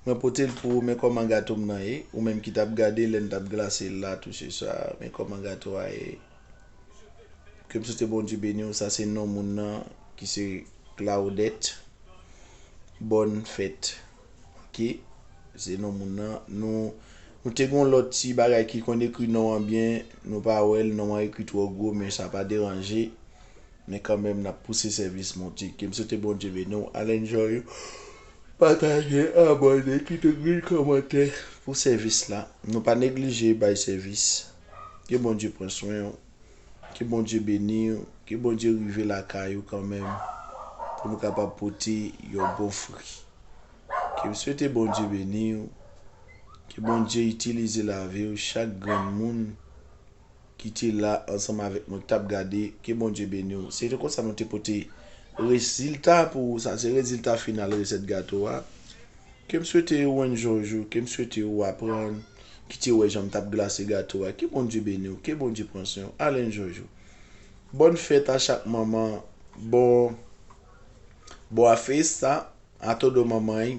Mwen pote l pou ou men kòman gato m nan ye ou menm ki t ap gade lè n t ap glase l la touche sa men kòman gato a ye ke m swete Bondye beni w sa se non moun nan ki se Claudette bòn fèt ok se non moun nan nou nou te gon lòt ti bagay ki konn ekri non an byen nou pa wè l non an ekri twò gwo men sa pa deranje Men kanmenm nap pouse sèvis Bondye ke m swete Bondye beni w al enjoy ou pataje abòne kite grenn kòmantè pou sèvis la nou pa neglije bay sèvis ke Bondye pran swen w ke Bondye beni w ke Bondye rive lakay ou kanmenm pou nou kapab pote yon bon fri ke m swete Bondye beni w ke Bondye itilize lavi w chak grenn moun. ki te la ansanm avèk nou ki tap gade ke Bondye beniw se te konsa nou te pote rezilta pou ou sa se rezilta final resèt gato a kem swete ou enjoy jou kem swete ou aprann ki te wè janm tap glase gato a ke Bondye beniw ke Bondye pran swen ou al enjoy jou bòn fèt a chak manman bon bon a festa a todo manmay.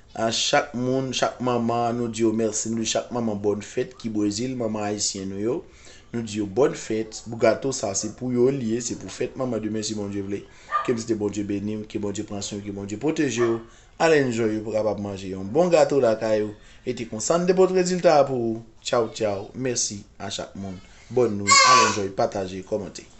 A chak moun, chak manman, nou di yo mèsi. Nou di chak manman bòn fèt ki Brezil, manman ayisyen nou yo. Nou di yo bòn fèt. Gato sa se pou yo li ye, se pou fèt manman demen si Bondye vle. Ke bsde Bondye beni w, ke Bondye pran swen w, ke Bondye pwoteje w. Al enjoy ou pou kapab manje yon bon gato lakay ou. E te konsa n te pot rezilta a pou ou. Tchaw tchaw. Mèsi a chak moun. Bòn nwi. Al enjoy, pataje, kòmante.